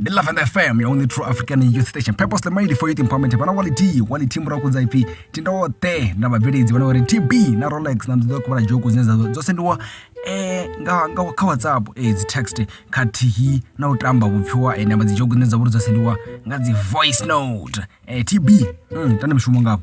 ndi lavenda fm ya only true african youth station purposely made for youth empowerment vana wa litiyi wa litiyi murahu kudza ipfi tindoṱe na vhabveledzi vhana uri tb na rolex na nḓoḓo kuvhala joku dzine dza dzo sendiwa eh, nga, nga kha whatsapp eh, dzi text khathihi na u tamba vhupfiwa eh, namba dzi joku dzine dza vha uri dzo sendiwa nga dzi voice note eh, tb mm, tande mishumo ngafho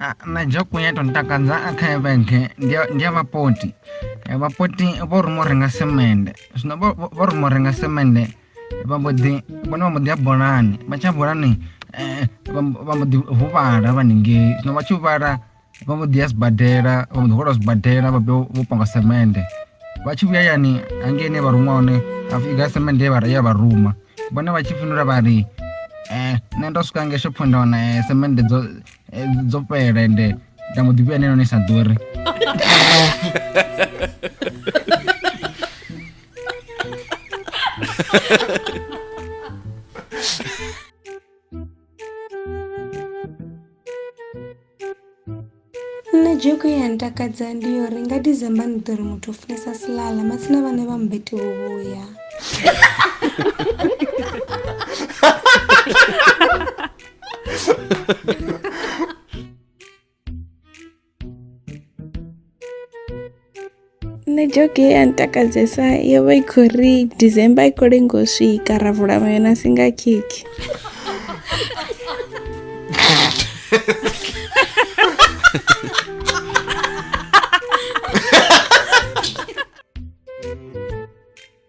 Ah, na dzhoku ya tou ntakadza a kha evenge ndi ya- ndi ya vhapoti Eh, vhapoti vho ruma u renga semende zwino vho- vho vho ruma u renga semende vha mbo ḓi vhone vha mbo ḓi ya bolani vha tsha bolani eh, vha mbo- vha mbo ḓi huvhala vhaningei zwino vha tshi huvhala vha mbo ḓi ya sibadela vha mbo ḓi hwala sibadela vha vhuya vho panga semende vha tshi vhuya yani hangeini vha ruma hone ha pfhi ga semende ye vha- ye vha ruma vhone vha tshi fhindula vha ri eh, nṋe ndo swika nge shopho nda wana eh, semende dzo eh, dzo fhela ende nda mbo ḓi vhuya neno ni sa ḓuri nṋe dzhoko ya ntakadza ndi yo ri nga december ni ḓo ri muthu o funesa silala matsina vhane vha mubete vho vhuya nṋe joke ye ya ntakadzesa yo vha i khou ri december i khou lengo u swika ra vula mayonasi nga khekhi